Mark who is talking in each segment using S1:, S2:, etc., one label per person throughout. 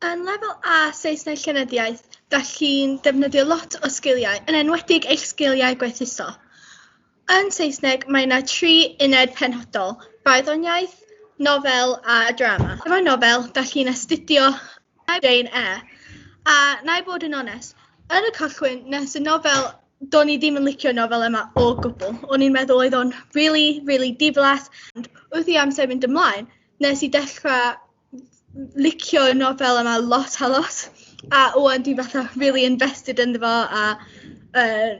S1: Yn lefel A Saesneg Llenyddiaeth, da chi'n defnyddio lot o sgiliau, yn enwedig eich sgiliau gwerthuso. Yn Saesneg, mae yna tri uned penodol, barddoniaeth, nofel a drama. Efo nofel, da chi'n astudio Na i Jane Eyre a wna i fod yn onest yn y cychwyn nes y nofel do'n i ddim yn licio'r nofel yma o gwbl o'n i'n meddwl oedd o'n rili rili diflas ond wrth i amser mynd ymlaen nes i dechrau licio'r nofel yma lot a lot a ŵan dwi fatha rili invested ynddo fo a yy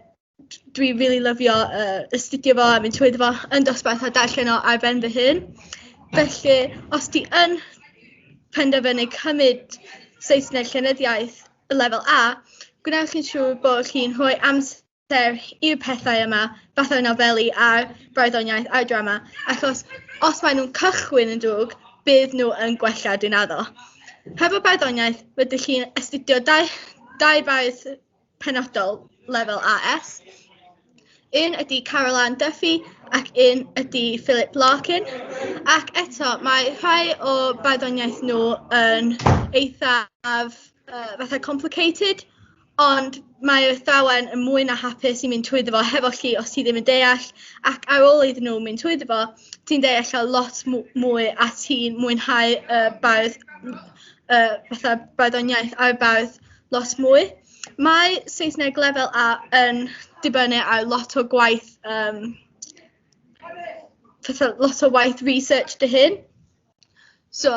S1: dwi rili lyfio yy astudio fo a mynd trwyddo fo yn dosbarth a darllen o ar ben fy hun felly os ti yn penderfynu cymryd Saesneg Llenyddiaeth Lefel A gwnewch yn siŵr bo' chi'n rhoi amser i'r pethau yma fatha'r nofeli a'r barddoniaeth a'r drama achos os maen nhw'n cychwyn yn drwg bydd nhw yn gwella dwi'n addo. Hefo barddoniaeth rydych chi'n astudio dau dau faes penodol lefel AS. Un ydy Carol Ann Duffy ac un ydy Philip Larkin. Ac eto, mae rhai o barddoniaeth nhw yn eithaf uh, fatha complicated, ond mae'r athrawon yn mwy na hapus i mynd trwyddo fo hefo chi os ti ddim yn deall ac ar ôl iddyn nhw mynd trwyddo fo ti'n deall o lot mwy a ti'n mwynhau y uh, bardd uh, fatha barddoniaeth a'r bardd lot mwy. Mae Saesneg lefel A yn dibynnu ar lot o gwaith um, lot o waith research dy hyn. So,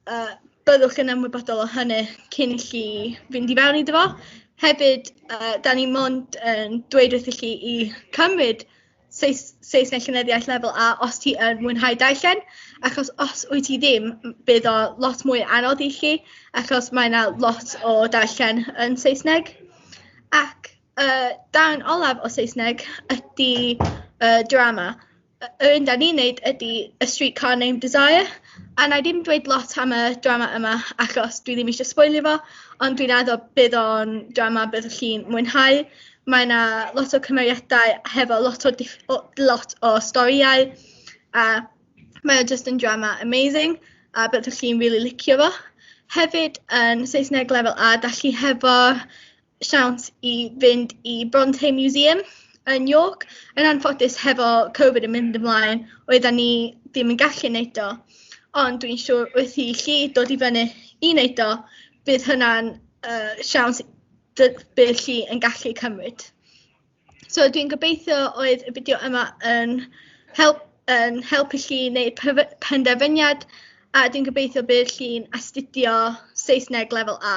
S1: uh, byddwch yn ymwybodol o hynny cyn i chi fynd i fewn iddo fo. Hefyd, uh, da ni mond yn dweud wrth i chi i cymryd Seis Seis neu Llenyddiaeth Lefel A os ti yn mwynhau darllen, achos os wyt ti ddim, bydd o lot mwy anodd i chi, achos mae 'na lot o darllen yn Saesneg. Ac y darn olaf o Saesneg ydy y drama. Yr un 'dan ni'n neud ydy A Streetcar Named Desire, a wna i ddim dweud lot am y drama yma achos dwi ddim eisiau sboilio fo, ond dwi'n addo bydd o'n drama byddwch chi'n mwynhau. mae 'na lot o cymeriadau hefo lot o diff- o lot o storïau a mae o jyst yn drama amazing a byddwch chi'n rili licio fo. Hefyd yn Saesneg lefel A dach chi hefo siawns i fynd i Bronte Museum yn York yn anffodus hefo Covid yn mynd ymlaen oeddan ni ddim yn gallu neud o ond dwi'n siŵr wrth i chi dod i fyny i neud o bydd hynna'n yy siawns dy- be chi yn gallu cymryd. So dwi'n gobeithio oedd y fideo yma yn help yn helpu chi wneud pef- penderfyniad a dwi'n gobeithio bydd chi'n astudio Saesneg lefel A.